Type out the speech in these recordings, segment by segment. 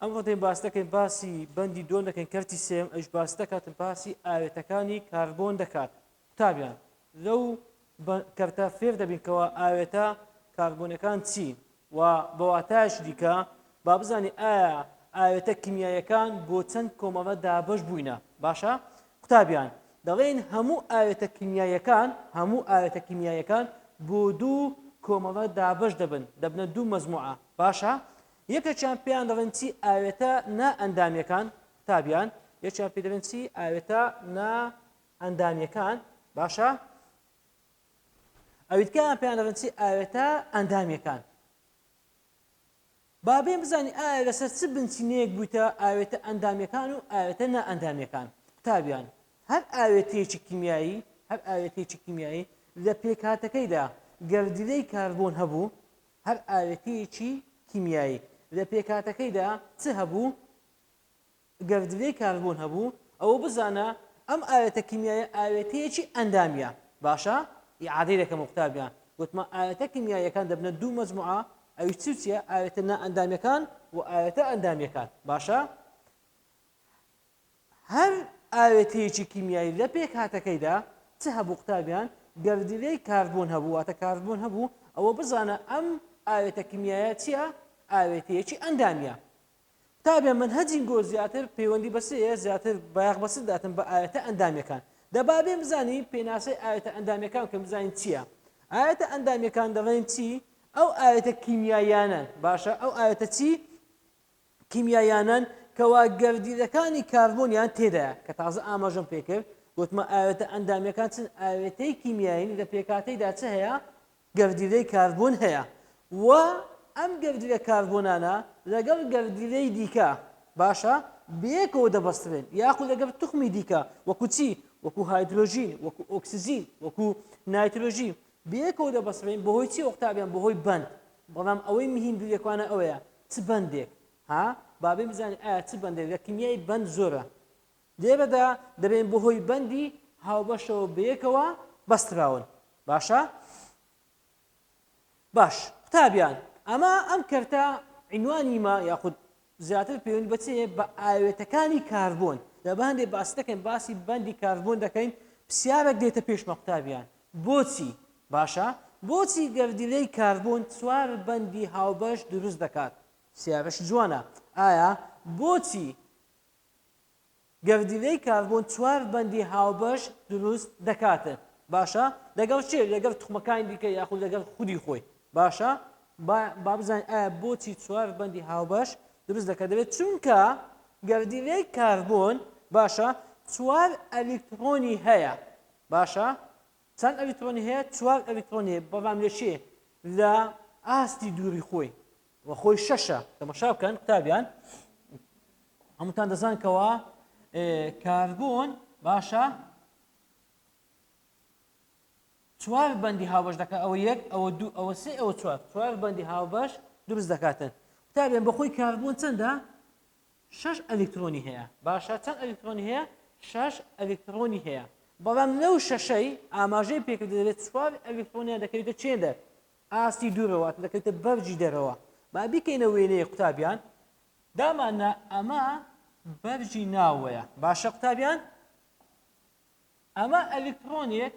ئەمڕۆ دێین باس دەکەین باسی بەندی دووەم دەکەین کەرتی سێم ئەوش باس دەکاتن باسی ئاوێتەکانی کاربۆن دەکات قوتابیان لەو کەرتە فێر دەبین کەەوە ئاوێتە کاربۆنەکان چین و بەواتایش دیکە با بزانانی ئایا ئاوێتە کیمیایەکان بۆ چەند کۆمەڵە دابش بووینە باشە قوتابیان دەڵێن هەموو ئاوێتە کیمیایەکان هەموو ئاوێتە کیمیایەکان بۆ دوو کۆمەڵە دابش دەبن دەبنە دوو مەزموعە باشە یەکێکیان پێیان دەڵێن چی ئاوێتە نا ئەندامیەکان قوتابیان یەکیان پێ دەڵێن چی ئاوێتە نا ئەندامیەکان باشە ئەویتکان پێیان دەڵێن چی ئاوێتە ئەندامیەکان بابێ بزانانی ئایا لەسەر چ بنچینەیەک بوویتە ئاوێتە ئەندامیەکان و ئاوێتە نا ئەندامیەکان قوتابیان هەر ئاوێتەیەکی کیمیایی هەر ئاوێتەیەکی کیمیایی لە پێکاتەکەیدا گەردیلەی کاربوون هەبوو هەر ئاوێتەیەکی کیمیایی لە پێکهاتەکەیدا چ هەبوو؟ گەردیلەی کاربۆن هەبوو، ئەوە بزانە ئەم ئاوێتە کیمیایە ئاوێتەیەکی ئەندامییە، باشە ئیعادەی دەکەمەوە قوتابیان، گوتمان ئاوێتە کیمیاییەکان دەبنە دوو مەجموعە، ئەویش چی و چییە؟ ئاوێتە نائەندامییەکان و ئاوێتە ئەندامییەکان، باشە؟ هەر ئاوێتەیەکی کیمیایی لە پێکهاتەکەیدا چ هەبوو قوتابیان گەردیلەی کاربۆن هەبوو واتە کاربۆن هەبوو ئەوە بزانە ئەم ئاوێتە کیمیایە چیە ئاوێتەیەکی ئەندامیە قوتابیان من هەجین گۆ زیاتر پەیوەندی بەسەیە زیاتر بایەخ بەسە داتن بە ئاوێتە ئەندامیەکان دەبابێ بزانی پێناسەی ئاوێتە ئەندامیەکان کە بزانین چییە ئاەتە ئەندامیەکان دەڵێن چی ئەو ئاەتە کیمیایانە باشە ئەو ئاەتە چی کیمیاییانەن کەوا گەردیلەکانی کاربۆنیان تێدایە کە تازە ئاماژەم پێکرد گوتمە ئاوێتە ئەندامیەکان چن ئاوێتەی کیمیایین لە پێکاتەیدا چ هەیە گەردیلەی کاربۆن هەیە و ئەم گەردیلە کاربۆنانە لەگەڵ گەردیلەی دیکە باشە بەیەکەوە دەبەسترێن یاخو لەگەڵ توخمی دیکە وەکو چی وەکو هایدرۆژین وەکو ئۆکسسیجین وەکو نایترۆژین بەیەکەوە دەبەسترێن بەهۆی چی ئۆقتابیان بەهۆی بەند بەڵام ئەوەی مهیم دوورەکوانە ئەوەیە چ بەندێک ها بابێ بزانین ئایا چ بەندێک لە کیمیای بەند زۆرە لێرەدا دەبێن بەهۆی بەندی هاوبەشەوە بەیەکەوە بەستراون باشە باش قوتابیان ئەمە ئەم کەرتە عینوانی ما یاخود زیاتر پەیوەند بە چ هەیە بە ئاوێتەکانی کاربۆن لە بە هەندێک باس دەکەین باسی بەندی کاربۆن دەکەین پرسیارێک دێتە پێشمە قوتابیان بۆچی باشە بۆچی گەردیلەی کاربۆن چوار بەندی هاوبەش دروست دەکات پرسیارەش جوانە ئایا بۆچی گەردیلەی کاربۆن چوار بەندی هاوبەش دروست دەکاتت باشە لەگەڵ کێ لەگەڵ توخمەکانی دیکە یاخود لەگەڵ خودی خۆی باشە با با بزانین ئایا بۆچی چوار بەندی هاوبەش دروست دەکات دەبێت چونکە گەردیلەی کاربۆن باشە چوار ئەلیکترۆنی هەیە باشە چەند ئەلیکترۆنی هەیە چوار ئەلیکترۆنی بەڵام لە کێ لە ئاستی دووری خۆی و خۆی شەشە تەمەشا بکەن قوتابیان هەمووتان دەزان کەەوە کاربوون باشە چوار بەندی هاوبەش دەکە ئەوە یەک ئەوە دوو ئەوە سێ ئەوە چوار چوار بەندی هاوبەش دروست دەکاتن قوتابیان بەخۆی کاربوون چەندە شش ئەلکترۆنی هەیە باشە چەند ئەلکترۆنی هەیە شش ئەلکترۆنی هەیە بەڵام لەو شەشەی ئاماژەی پێکرد دەبێت چوار ئەلکترۆنیان دەکەوێتە چێدە ئاستی دوو ڕەوات دەکەوێتە بەرجی دەرەوە با بیکەینە وێنەیەک قوتابیان داماننا ئەمە بەرجی ناوەیە باشە قوتابیان ئەمە ئەلیکترۆنێک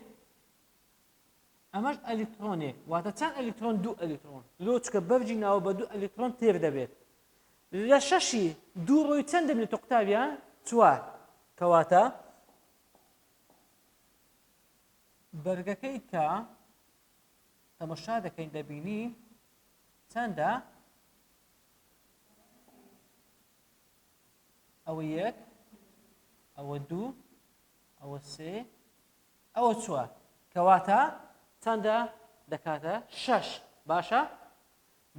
ئەمەش ئەلیکترۆنێک واتە چەند ئەلیکترۆن دوو ئەلیکترۆن لۆ چکە بەرجی ناوە بە دوو ئەلیکترۆن تێر دەبێت لە شەشی دوو ڕۆی چەند دەبێت تۆ قوتابیان چوار کەواتە بەرگەکەی کە تەمەشا دەکەین دەبینین چەندە ئەوە یەک ئەوە دوو ئەوە سێ ئەوە چوە کەواتە چەندە دەکاتە شەش باشە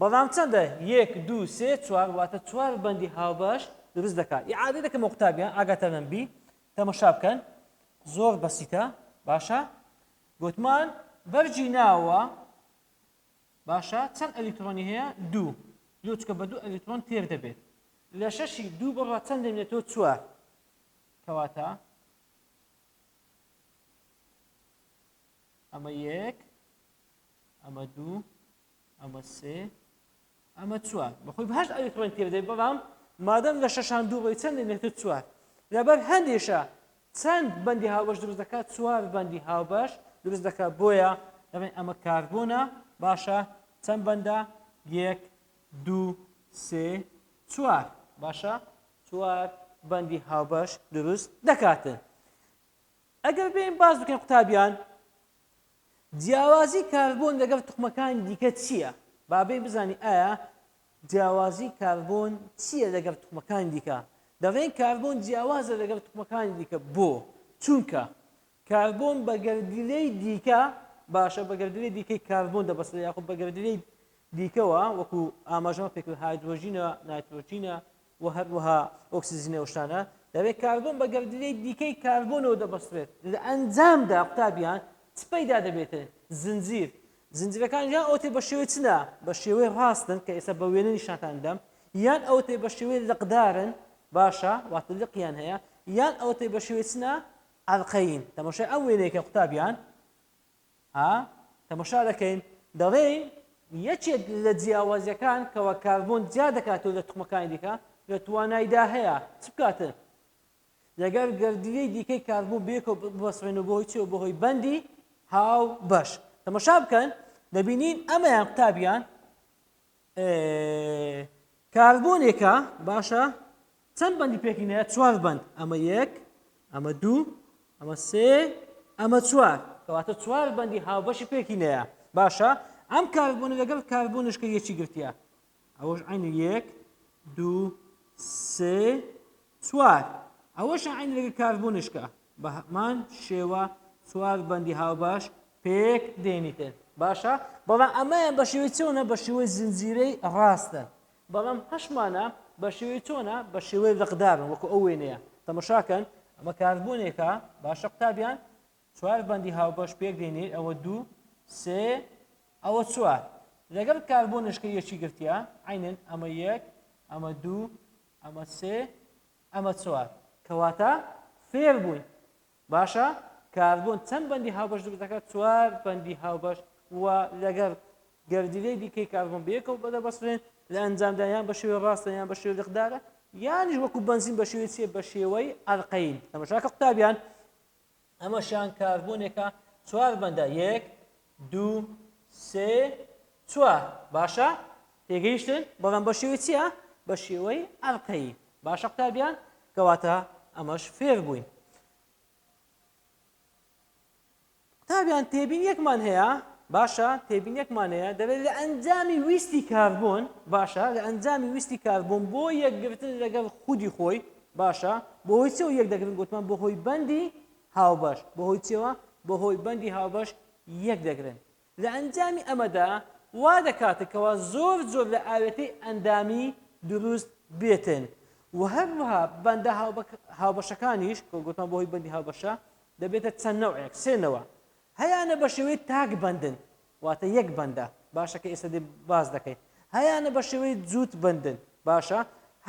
بەڵام چەندە یەک دو سێ چوار واتە چوار بەندی هاوبەش دروست دەکات یعادی دەکەمە قوتابیان ئاگاتەنەمبی تەمەشا بکەن زۆر بەسیتە باشە گوتمان بەرگی ناوە باشە چەند ئەلیکترۆنی هەیە دوو لوچکە بە دوو ئەلیکترۆن تێر دەبێت لە شەشی دوو بڕە چەند دێنێتەوە چوار کەواتە ئەمە یەک ئەمە دوو ئەمە سێ ئەمە چوار بەخۆی بەهشت ئەوی ڕێن پێ بدەیت بەڵام مادەم لە شەشان دوو ڕێی چەندی نێتر چوار لەبەر هەندێشە چەند بەندی هاوبەش دروست دەکات چوار بەندی هاوبەش دروست دەکات بۆیە دەڵێن ئەمە کاربوونە باشە چەند بەندە یەک دوو سێ چوار باشە چوار بەندی هاوبەش دروست دەکاتن ئەگەر بێن باز بکەن قوتابیان جیاوازی کاربۆن لەگەڵ توخمەکانی دیکە چییە؟ با بێین بزانین ئایا جیاوازی کاربۆن چییە لەگەڵ توخمەکانی دیکە؟ دەڵێن کاربۆن جیاوازە لەگەڵ توخمەکانی دیکە بۆ؟ چونکە کاربۆن بە گەردیلەی دیکە باشە بە گەردیلەی دیکەی کاربۆن دەبەستێت یاخود بە گەردیلەی دیکەوە وەکو ئاماژەمە پێکرد هایدرۆژینە نایترۆژینە و هەروەها ئۆکسجین و ئەو شتانە، دەبێت کاربۆن بە گەردیلەی دیکەی کاربۆنەوە دەبەسترێت، لە ئەنجامدا قوتابیان چ پەیدا دەبێتێ؟ زنجیر، زنجیرەکان یان ئەوەتێ بە شێوەی چنە، بە شێوەی ڕاستن کە ئێستا بە وێنە نیشانتان دەدەم، یان ئەوەتێ بە شێوەی لقدارن، باشە، واتە لقیان هەیە، یان ئەوەتێ بە شێوەی چنە، عەلقەیین، تەماشای ئەم وێنەیەکە قوتابیان. ها تەمەشا دەکەین دەڵێین یەکێک لە جیاوازیەکان کەوا کاربۆن جیا دەکاتەوە لە تخمەکانی دیکە لە توانایدا هەیە چ بکاتن لەگەر گردیەی دیکەی کاربوو بێکۆ بەسڕێن و بۆی چێ و بەهۆی بەندی هاو بەش تەمەشا بکەن دەبینین ئەمەیان قوتابیان کاربۆنێکە باشە چەند بەندی پێکینەیە چوار بەند ئەمە یەک ئەمە دوو ئەمە سێ ئەمە چوار کەواتە چوار بەندی هاوبەشی پێکینەیە باشە ئەم کاربوونە لەگەڵ کاربوونشکە یەکی گرتیا ئەوەش عین یەک دوو سێ چوار ئەوەش عین لەگەڵ کاربوونشکە بە هەمان شێوە چوار بەندی هاوبەش پێک دێنیتێن باشە بەڵام ئەمەیان بە شێوەی چۆنە بە شێوەی زنجیرەی ڕاستە بەڵام هەشت مانە بە شێوەی چۆنە بە شێوەی لقدارن وەکو ئەو وێنەیە تەمەشاکەن ئەمە کاربوونێکە باشە قوتابیان چوار بەندی هاوبەش پێک دێنێت ئەوە دوو سێ ئەوە چوار لەگەڵ کاربۆنشکە یەکی گرتیا عینەن ئەمە یەک ئەمە دوو ئەمە سێ ئەمە چوار کەواتە فێر بووین باشە کاربۆن چەند بەندی هاوبەش دروست دەکات چوار بەندی هاوبەش و لەگەر گەردیلەی دیکەی کاربۆن بەیەکەوە بەدە بەسرێن لە ئەنجامدا یان بە شێوەی ڕاستە یان بە شێوەی لەقدارە یانیش وەکو بەنزین بە شێوەی چیە بە شێوەی ئەلقەیل تەمەشاکە قوتابیان ئەمەشیان کاربۆنێکە چوار بەندە یەک دوو، سێ، چوار. باشە؟ تێگەیشتن؟ بەڵام بە شێوەی چییە؟ بە شێوەی ئەڵقەیی. باشە قوتابیان؟ کەواتە ئەمەش فێر بووین. قوتابیان تێبینیەکمان هەیە، باشە تێبینیەکمان هەیە دەبێت لە ئەنجامی ویستی کاربۆن باشە لە ئەنجامی ویستی کاربۆن بۆ یەکگرتن لەگەڵ خودی خۆی باشە بۆ هۆی چەوە یەک دەگرن گوتمان بۆ هۆی بەندی هاوبەش، بەهۆی چیەوە؟ بەهۆی بەندی هاوبەش یەک دەگرن. لە ئەنجامی ئەمەدا وا دەکاتن کەوا زۆر جۆر لە ئاوێتەی ئەندامی دروست بێتن و هەروەها بەندە هاوبەشەکانیش کە گوتمان بەهۆی بەندی هاوبەشە دەبێتە چەند نەوعێک سێ نەوە هەیانە بە شێوەی تاک بەندن واتە یەک بەندە باشە کە ئێستا دێ باس دەکەین هەیانە بە شێوەی جووت بەندن باشە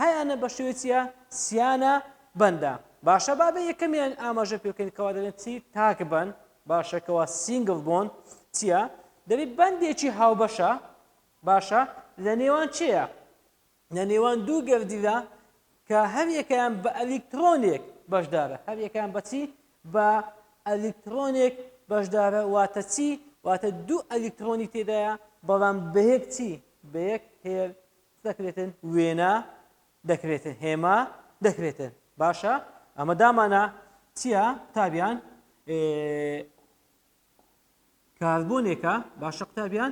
هەیانە بە شێوەی چیە سیانە بەندە باشە بابێ یەکەمیان ئاماژە پێکەین کەوا دەێن چی تاک بەن باشەکەەوە سینگل بۆن چییە دەبێت بەندێکی هاوبەشە باشە لە نێوان چێە لە نێوان دوو گەردیلدا کە هەر یەکەیان بە ئەلیکترۆنێک بەشدارە هەر یەکەیان بەچی بە ئەلیکترۆنێک بەشدارە واتە چی واتە دوو ئەلیکترۆنی تێدایە بەڵام بەیەک چی بەیەک هێر دەکرێتن وێنە دەکرێتن هێما دەکرێتن باشە ئەمە دامانە چییە تابیان کاربۆنێکە باشە قوتابیان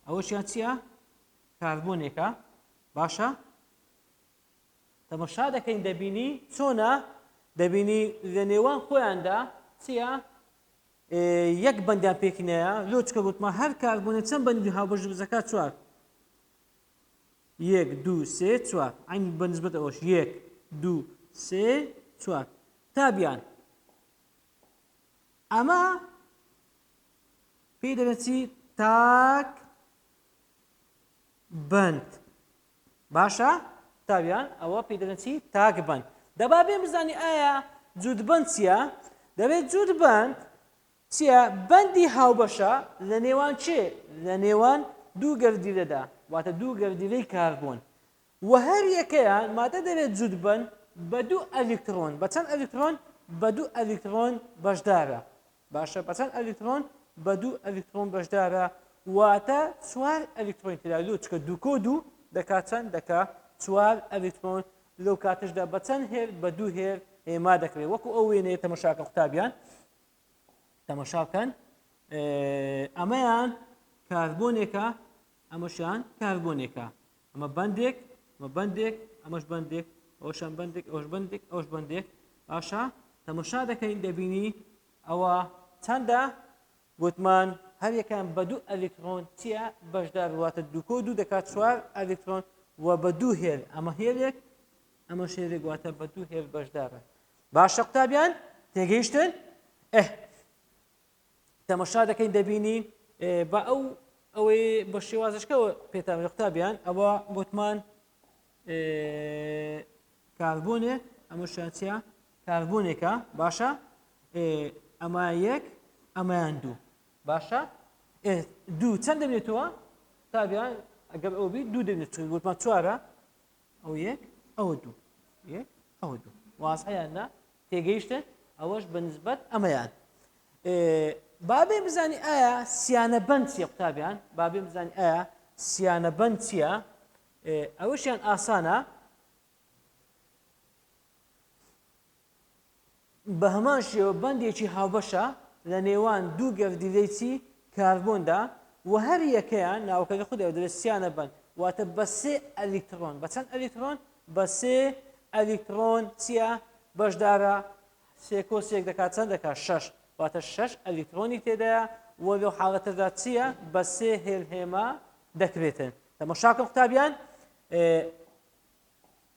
ئەوەشیان چییە کاربۆنێکە باشە تەمەشا دەکەین دەبینی چۆنا دەبینی لە نێوان خۆیاندا چییە یەک بەندیان پێکینەیە لۆ چکە گوتمە هەر کاربوونە چەند بەندی هاوبەش بزەکە چوار یەک دوو سێ چوار ئەین بەنسبەت ئەوش یەک دوو سێ چوار تابیان ئەمە پێی دەلێن چی تاک بند باشە تاویان ئەوە پێی دەلێن چی تاک بند دەبا بێ بزانی ئایا جود بند چییە دەبێت جود بند چییە بەندی هاوبەشە لە نێوان چێ لە نێوان دوو گەردیلەدا واتە دوو گەردیلەی کاربوون و هەر یەکەیان مادە دەبێت جود بند بە دوو ئەلیکترۆن بە چەند ئەلیکترۆن بە دوو ئەلیکترۆن بەشدارە باشە بەچەند ئەلیکترۆن بەدوو ئەلیکترۆن بەشدارە واتە چوار ئەلیکترۆن تێدا لۆ چکە دووکۆ دوو دەکات چەند دەکا چوار ئەلیکترۆن لەو کاتشدا بەچەند هێر بە دوو هێر هێما دەکرێت وەکو ئەو وێنەیە تەمەشاکە قوتابیان تەمەشاکەن ئەمەیان کاربۆنێکە ئەمەشیان کاربۆنێکە ئەمە بەندێک ئەمە بەندێک ئەمەش بەندێک ئەوشان بەندێک ئەوش بەندێک ئەوش بەندێک باشە تەمەشا دەکەین دەبینی ئەوە چەندە گوتمان هەریەکان بە دوو ئەلیکترۆن چیە بەشدار واتە دوکۆ دوو دەکات چوار ئەلیکترۆن و بە دوو هێل ئەمە هێلێک ئەمە شێرێک واتە بە دوو هێل بەشدارە باشە قوتابیان تێگەیشتن ئه تەمەشا دەکەین دەبینین بە ئەو ئەوەی بە شێوازشکەوە پێتان لە قوتابیان ئەوە گوتمان کاربوونێ ئەمە شانسیا کاربوونێکە باشە ئەمە یەک ئەمەیان دوو باشە دوو چەند دەبێتەوە تابیان ئەگەر ئەو بی دوو دەبێت گوتمان چوارە ئەو یەک ئەوە دوو یەک ئەوە دوو وازحە یان نا تێگەیشتن ئەوەش بە نسبەت ئەمەیان بابێ بزانی ئایا سیانە بند چیە قوتابیان بابێ بزانی ئایا سیانە بند چییە ئەوەشیان ئاسانە بە هەمان شێوە بەندێکی هاوبەشە لە نێوان دوو گەردیلەیی کاربۆندا و هەر یەکەیان ناوەکەکە خودی ئەوە دەبێت سیانە بەند واتە بە سێ ئەلیکترۆن بە چەند ئەلیکترۆن بە سێ ئەلیکترۆن چییە بەشدارە سێ کۆ سێک دەکات چەند دەکات شەش واتە شەش ئەلیکترۆنی تێدایە و لەو حاڵەتەدا چییە بە سێ هێل هێما دەکرێتن تەمەشاکە قوتابیان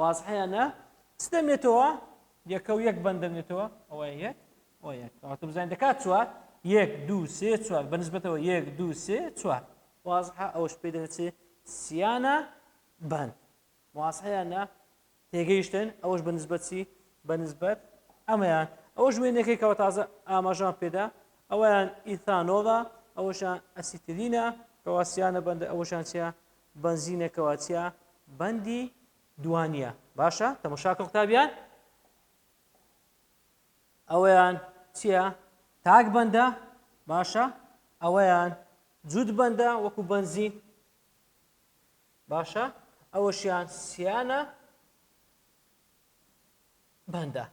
وازحە یان نا چ دەمێتەوە یەکە و یەک بەند دەمێتەوە ئەوە یەک ئەوە یەک ئەوە تۆ بزانین دەکات چوار یەک دوو سێ چوار بە نسبەتەوە یەک دوو سێ چوار وازحە ئەوەش پێ دەچێ سیانە بەند وازحە یان نا تێگەیشتن ئەوەش بە نسبەتی بە نسبەت ئەمەیان ئەوەش وێنەکەی کەەوە تازە ئاماژان پێدا ئەویان ئیثانۆڵە ئەوەشان ئەسیترینە کەواسیانە بەندە ئەوەشان چیا بەنزینە کەواتیا بەندی دوانیە باشە تەمەشاکە قوتابیان ئەوەیان چییە تاک بەندە باشە ئەوەیان جوود بەندە وەکو بەنزین باشە ئەوەشیان سیانە بەندە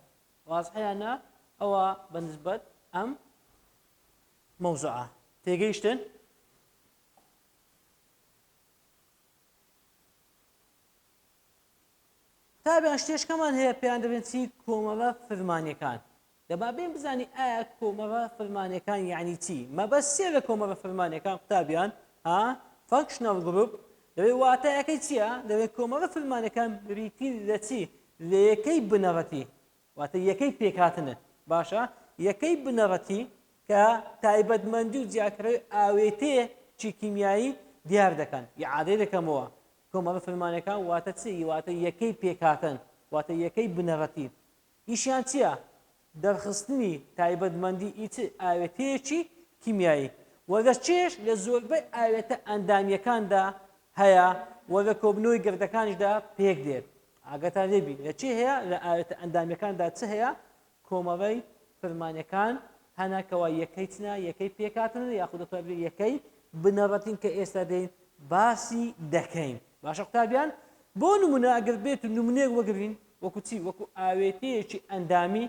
وازحیانە ئەوە بەنسبەت ئەم مەوزوعە تێگەیشتن قوتابیان شتێشکەمان هەیە پێیان دەبێن چی کۆمەڵە فرمانەکان دەبا بێن بزانین ئایا کۆمەڵە فرمانەکان یعنی چی مەبەست سێ لە کۆمەڵە فرمانەکان قوتابیان ها فانکشنەڵ گروپ دەبێت واتایەکەی چییە دەبێت کۆمەڵە فرمانەکان بریتین لە چی لە یەکەی بنەڕەتی واتە یەکەی پێکهاتنت باشە، یەکەی بنەڕەتی کە تایبەتمەندی و جیاکەرەوەی ئاوێتێ چی کیمیایی دیار دەکەن. ئیعادەی دەکەمەوە، کۆمەڵە فرمانەکان واتە چی؟ واتە یەکەی پێکهاتن، واتە یەکەی بنەڕەتی. ئیشیان چییە؟ دەرخستنی تایبەتمەندی ی چ ئاوێتەیەکی کیمیایی. وردە چێش لە زۆربەی ئاوێتە ئەندامییەکاندا هەیە و لە کۆبنەوەی گەردەکانیشدا پێک دێت. ئاگاتان لێ بی لە چی هەیە لە ئاوێتە ئەندامیەکاندا چ هەیە کۆمەڵەی فرمانەکان هەنا کەوا یەکەی چنە یەکەی پێکاتنە یاخود دەتوان بێ یەکەی بنەڕەتین کە ئێستا دێن باسی دەکەین باشە قوتابیان بۆ نمونە ئەگەر بێت و نمونەیەک وەگرین وەکو چی وەکو ئاوێتەیەکی ئەندامی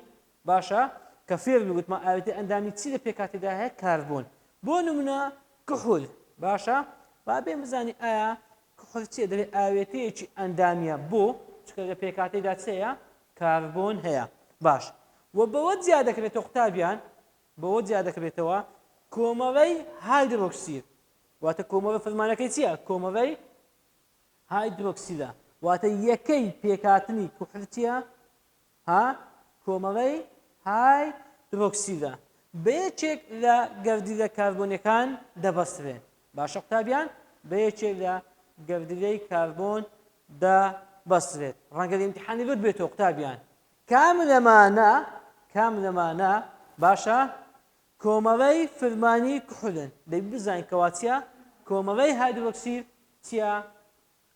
باشە کە فێرن وتمان ئاوێتەی ئەندامی چی لە پێکهاتەدا هەیە کاربۆن بۆ نمونە کحول باشە با بێم بزانی ئایا کحول چیە دەبێت ئاوێتەیەکی ئەندامیە بۆ چکە لە پێکهاتەیدا چەیە کاربۆن هەیە باش و بەوە جیا دەکرێتەوە قوتابیان بەوە جیا دەکرێتەوە کۆمەڵەی هایدرۆکسید واتە کۆمەڵە فەرمانەکەی چییە کۆمەڵەی هایدرۆکسیدە واتە یەکەی پێکاتنی کوحرتیە ها کۆمەڵەی های درۆکسیلە بە یەکێک لە گەردیلە کاربۆنیەکان دەبەسترێن باشە قوتابیان بە یەکێک لە گەردیلەی کاربۆن دە بەسترێت ڕەنگە ئیمتحانی بەر بێتەوە قوتابیان کام لەمانە کام لەمانە باشە کۆمەڵەی فرمانی کحولن دەبی بزانین کەواتە کۆمەڵەی هایدرۆکسیل چیا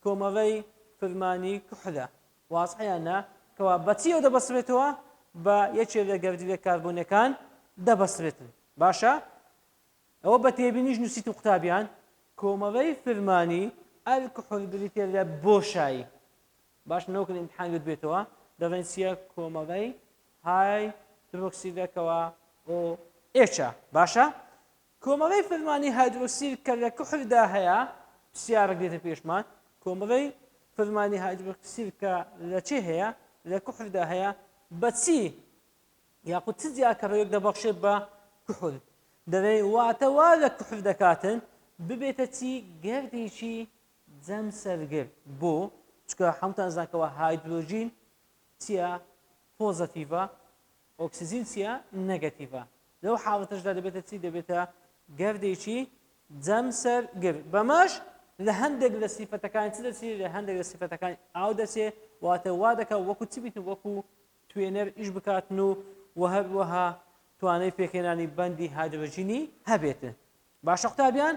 کۆمەڵەی فرمانی کحولە وازحەیان نا کەوا بە چیەوە دەبەسرێتەوە بە یەکێ لە گەردیلە کاربۆنیەکان دەبەسرێتن باشە ئەوە بە تێبینیش نووسیتم قوتابیان کۆمەڵەی فرمانی ئەلکحول بریتە لە بۆشایی باش نەوکن امتحان گوت بێتەوە دەڵێن چیە کۆمەڵەی های درۆکسیدەکەوە ئۆ ئێچە باشە کۆمەڵەی فرمانی هایدرۆکسیل کە لە کحولدا هەیە، سیارەک دێتە پێشمان، کۆمەڵەی فرمانی هایدرۆکسیل کە لە چێ هەیە، لە کحولدا هەیە، بە چی یاخود چ جیاکەرەوەیەک دەبەخشێت بە کحول؟ دەڵێین واتە وا لە کحول دەکاتن ببێتە چی گەردێکی جەمسەرگر بۆ چکە هەمووتان زانکەوە هایدرۆژین چیە پۆزەتیڤە ئۆکسجین چیە؟ نەگەتیڤە. لەو حاڵەتەشدا دەبێتە چی؟ دەبێتە گەردێکی جەمسەر گر. بەمەش لە هەندێک لە سیفەتەکانی چ دەچێ؟ لە هەندێک لە سیفەتەکانی ئاو دەچێ، واتە وا دەکا وەکو چ بیتن؟ وەکو توێنەر ئیش بکاتن و و هەروەها توانای پێکهێنانی بەندی هایدرۆجینی هەبێتن. باشە قوتابیان،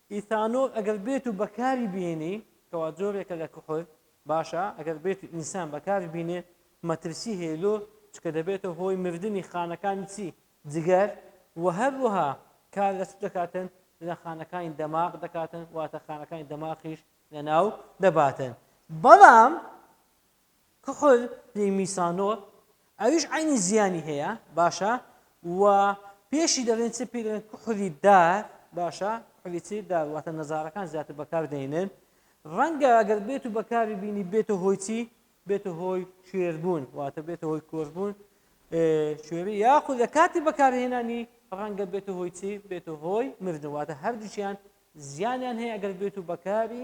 ئیثانۆل ئەگەر بێت و بەکاری بهێنی، کەوا جۆرێکە لە کحول، باشە ئەگەر بێت و ئینسان بەکاری بینێ مەترسی هەیە لۆ چونکە دەبێتە هۆی مردنی خانەکانی چی؟ جگەر وە هەروەها کار لە چ دەکاتن؟ لە خانەکانی دەماغ دەکاتن واتە خانەکانی دەماخیش لەناو دەباتن بەڵام کحول پێی میسانۆل ئەویش عەینی زیانی هەیە باشە و پێشی دەڵێن چ پێی دەڵێن کحولی دار باشە کحولی چی دار واتە نەزارەکان زیاتر بەکار دەینن ڕەنگە ئەگەر بێت و بەکاری بینی بێتە هۆی چی بێتە هۆی شێربوون واتە بێتە هۆی کۆشبوون شوێری یاخود لە کاتی بەکارهێنانی ڕەنگە بێتە هۆی چی بێتە هۆی مردن واتە هەردووچیان زیانیان هەیە ئەگەر بێت و بەکاری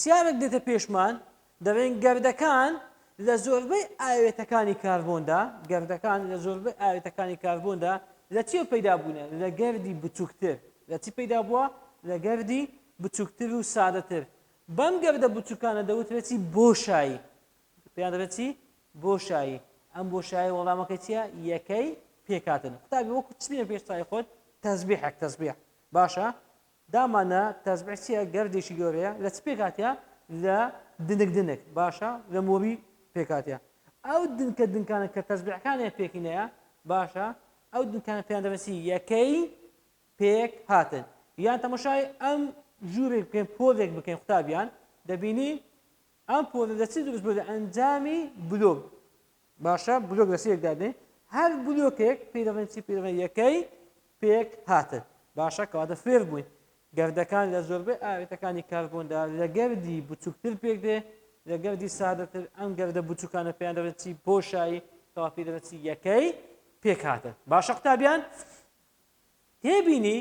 سیارێک دێتە پێشمان، دەڵێن گەردەکان لە زۆربەی ئاوێتەکانی کاربۆندا، گەردەکان لە زۆربەی ئاوێتەکانی کاربۆندا لە چییەوە پەیدا بوونە؟ لە گەردی بچووکتر. لە چی پەیدا بووە؟ لە گەردی بچووکتر و سادەتر. بەم گەردە بچووکانە دەوترێت چی؟ بۆشایی. پێیان دەڵێت چی؟ بۆشایی. ئەم بۆشایی وەڵامەکەی چییە؟ یەکەی پێکهاتن. قوتابی وەکو چ بینە پێش چاوی خۆت؟ تەزبیحێک، تەزبیح. باشە، دامانا تەزبیح چیە گەردێکی گەورەیە لە چ پێکهاتە لە دنک دنک باشە لە مۆری پێکهاتە ئەو دنکە دنکانە کە تەزبیحەکانیان پێکینەیە باشە ئەو دنکانە پێیان دەڵێن چی یەکەی پێک هاتن یان تەمەشای ئەم ژوورێک بکەین پۆلێک بکەین قوتابیان دەبینین ئەم پۆلە لە چ دروست بووە لە ئەنجامی بلۆک باشە بلۆک لە سێک دادەین هەر بلۆکێک پیرەڵێن چی پیرڵێن یەکەی پێک هاتن باشە کەواتە فێر بووین گردەکان لە زۆربەی ئاوێتەکانی کاربۆندا لە گردی بچووکتر پێک دێ لە گردی سادەتر ئەم گردە بچووکانە پێیان دەڵێت چی بۆشایی کەوا پێ دەڵێت چی یەکەی پێکهاتن باشە قوتابیان تێبینی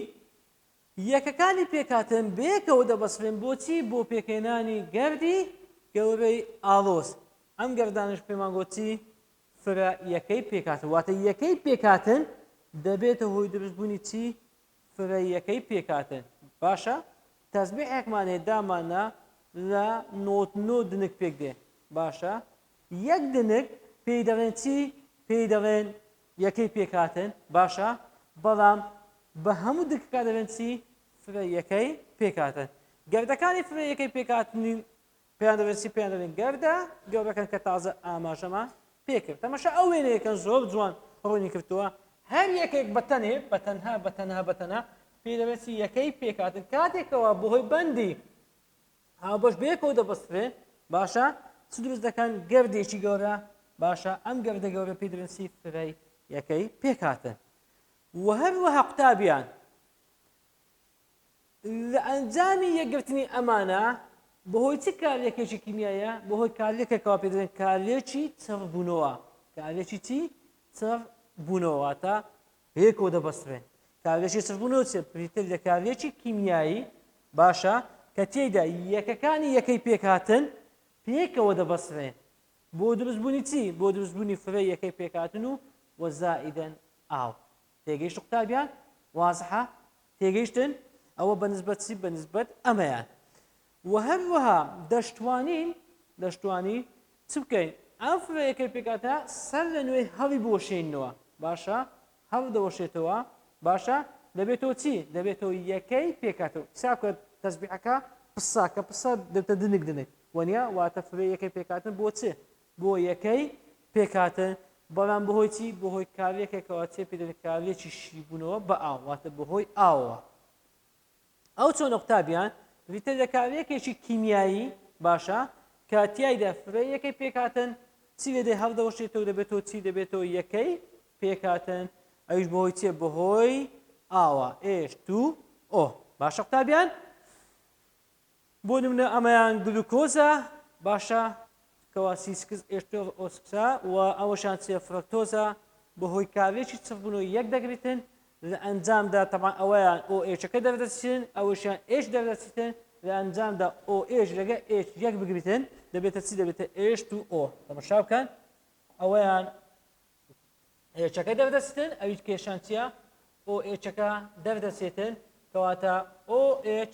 یەکەکانی پێکهاتن بەیەکەوە دەبەسترێن بۆچی؟ بۆ پێکهێنانی گەردی گەورەی ئاڵۆز، ئەم گەردانەش پێمان گۆت چی؟ فرە یەکەی پێکهاتن، واتە یەکەی پێکهاتن دەبێتە هۆی دروست بوونی چی؟ فرە یەکەی پێکهاتن، باشە تەزبیحێکمان هەیە دامانا لە نۆت نۆ دنک پێک دێ، باشە یەک دنک پێی دەڵێن چی؟ پێی دەڵێن یەکەی پێکهاتن باشە بەڵام بە هەموو دکەکە دەبێن چی فرە یەکەی پێکهاتن گردەکانی فرە یەکەی پێکهاتنی پێیان دەبێت چی پێیان دەبێن گردە گەورەکەن کە تازە ئاماژەمان پێکرد تەمەشە ئەو وێنەیەکەن زۆر جوان ڕوونی کردووە هەر یەکێک بەتەنێ بەتەنها بەتەنها بەتەنها پێ دەبێت یەکەی پێکاتن کاتێکەوە بەهۆی بەندی هاوبەش بەیەکەوە دەبەسترێ باشە چ دروست دەکەن گردێکی گەورە باشە ئەم گردە گەورە پێی دەڵێن چی فرەی یەکەی پێکهاتن و هەروەها قوتابیان لە ئەنجامی یەکگرتنی ئەمانە بەهۆی چ کارلێکێکی کیمیایە بەهۆی کارلێکێکەوە پێ دەڵێن کارلێکی چڕبوونەوە کارلێکی چی چڕ بوونەوەواتە پێ کۆ دەبەسترێن. کارلێکی سڕبوون لەو چییە؟ بریتییە لە کارلێکی کیمیایی باشە کە تێیدا یەکەکانی یەکەی پێکهاتن پێکەوە دەبەسترێن بۆ دروستبوونی چی؟ بۆ دروستبوونی فرەی یەکەی پێکهاتن و وەزائیدەن ئاو. تێگەیشت قوتابیان؟ وازحە؟ تێگەیشتن؟ ئەوە بە نسبەت چی؟ بە نسبەت ئەمەیان. وە هەروەها دەشتوانین دەشتوانی چ بکەین ئەم فرەیەکەی پێکهاتە سەر لە نوێ هەڵی بوەشێننەوە باشە هەڵ دەوەشێتەوە باشە دەبێتەوە چی دەبێتەوە یەکەی پێکاتەوە ساکە تەسبیحەکە پساکە پسە دەتە دنک دنک وەنیا واتە فرە یەکەی پێکاتن بۆ چێ بۆ یەکەی پێکاتە بەڵام بەهۆی چی بەهۆی کارلێکێکەوە چێ پێدەکارلێکی شیبوونەوە بە ئاواتە بەهۆی ئاوە ئەو چۆن ئۆکتاڤیان ریتەر لە کارلێکێکی کیمیایی باشە کە تیایدا فرەی یەکەی پێکهاتن چی لێدەی هەڵدەوەشێتەوە دەبێتەوە چی دەبێتەوە یەکەی پێکهاتن ئەویش بەهۆی چیە بەهۆی ئاوە ئێش تو ئۆ باشە قوتابیان بۆ نمونە ئەمەیان گلوکۆزە باشە کەوا سی سکس ئێشتۆز ئۆسکسە و ئەوەشان چیە فرەکتۆزە بەهۆی کارلێکی چڕبوونەوە یەک دەگریتن لە ئەنجامدا تەبان ئەوەیان ئۆ ئێچەکە دەردەچن ئەوەشیان ئێش دەردەچیتن لە ئەنجامدا ئۆ ئێش لەگە ئێش یەک بگریتن دەبێتە چی دەبێتە ئێشت و ئۆ تەمەشا بکەن ئەوەیان ئێچەکە دەردەچن ئەویش کێشان چیە ئۆ ئێچەکە دەردەچێتن کەواتە ئۆ ئێچ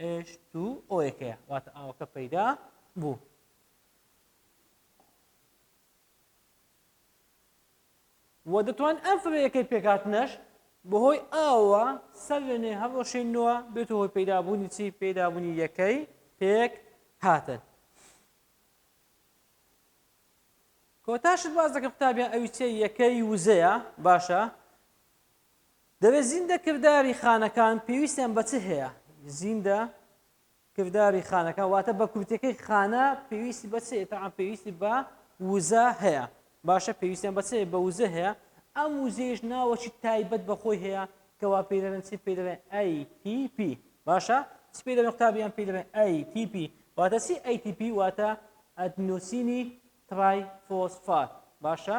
ئێش تو ئۆەکەیە واتە ئاوەکە پەیدا بوو وە دەتوان ئەم فەرەکەی پێکاتنەش بەهۆی ئاوە سەرێنێ هەڕۆشێنەوە بێت هۆی پەیدابوونی چی پێدابوونی یەکەی پێک هاتن کۆتاشت باز دەکە قوتابیان ئەوی چێ یەکەی وزەیە باشە دەبێت زیندە کرداری خانەکان پێویستیان بە چ هەیە؟ زیندە کرداری خانەکان واتە بە کورتەکەی خانە پێویستی بە چێ تاعا پێویستی بە وزە هەیە باشە پێویستیان بە چێ بە وزە هەیە ئەم وزەیەش ناوەکی تایبەت بەخۆی هەیە کەوا پێی دەڵێن چی پێی دەڵێن ATP باشە چی پێی دەڵێن قوتابیان پێی دەڵێن ATP واتە چی ATP واتە ئەدنۆسینی ترای فۆسفات باشە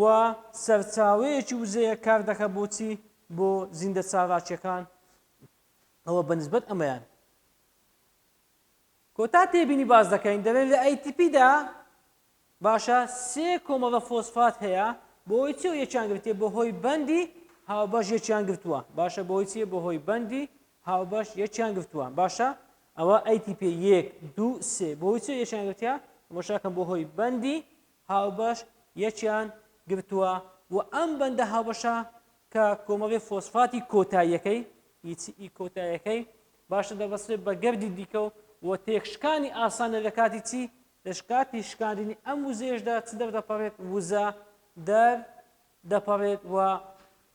و سەرچاوەیەکی وزەیە کار دەکات بۆ چی بۆ زیندە چالاکیەکان ئەوە بە نسبەت ئەمەیان کۆتا تێبینی باز دەکەین دەڵێن لە ATP دا باشە سێ کۆمەڵە فۆسفات هەیە بۆی چی و یەکیان گرتێ بە هۆی بەندی هاوبەش یەکیان گرتووە باشە بۆی چیە بە هۆی بەندی هاوبەش یەکیان گرتووە باشە ئەوە ATP یەک دوو سێ بۆی چی یەکیان گرتیا مەشاکەم بۆ هۆی بەندی هاوبەش یەکیان گرتووە و ئەم بەندە هاوبەشە کە کۆمەڵی فۆسفاتی کۆتاییەکەی، هیچ، ی کۆتاییەکەی باشتر دەبەسترێت بە گەردی دیکە و و تێکشکانی ئاسانە لە کاتی چی؟ لە کاتی شکاندنی ئەم وزەیەشدا چ دەردەپەڕێت؟ وزە دەر دەپەڕێت و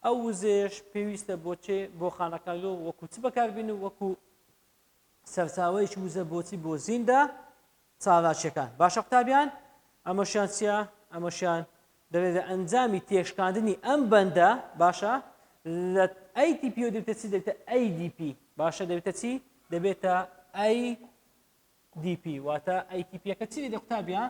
ئەو وزەیەش پێویستە بۆ چێ؟ بۆ خانەکانگە و وەکوو چ بەکاربێنن؟ وەکوو سەرچاوەیەکی وزە بۆ چی؟ بۆ زیندە چالاکیەکان باشە قوتابیان ئەمەشیان چیە ئەمەشیان دەلێ لە ئەنجامی تێشکاندنی ئەم بەندە باشە لە ATP و دەبێتە چی دەبێتە ADP باشە دەبێتە چی دەبێتە ADP واتە ATP یەکە چی دەبێتە قوتابیان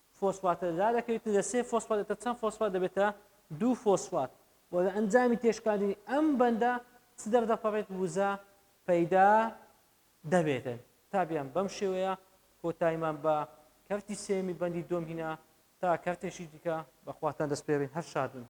فۆسفاتە دەدات دەکەوێتە لە سێ فۆسفات دەبێتە چەند فۆسفات دەبێتە دوو فۆسفات و لە ئەنجامی تێشکاندنی ئەم بەندە چ دەردەپەڕێت وزە پەیدا دەبێتن تابیان بەم شێوەیە کۆتایمان بە کەرتی سێمی بەندی دۆم هینا تا کەرتێکی دیکە بەخواتان دەستپێرین هەر شادن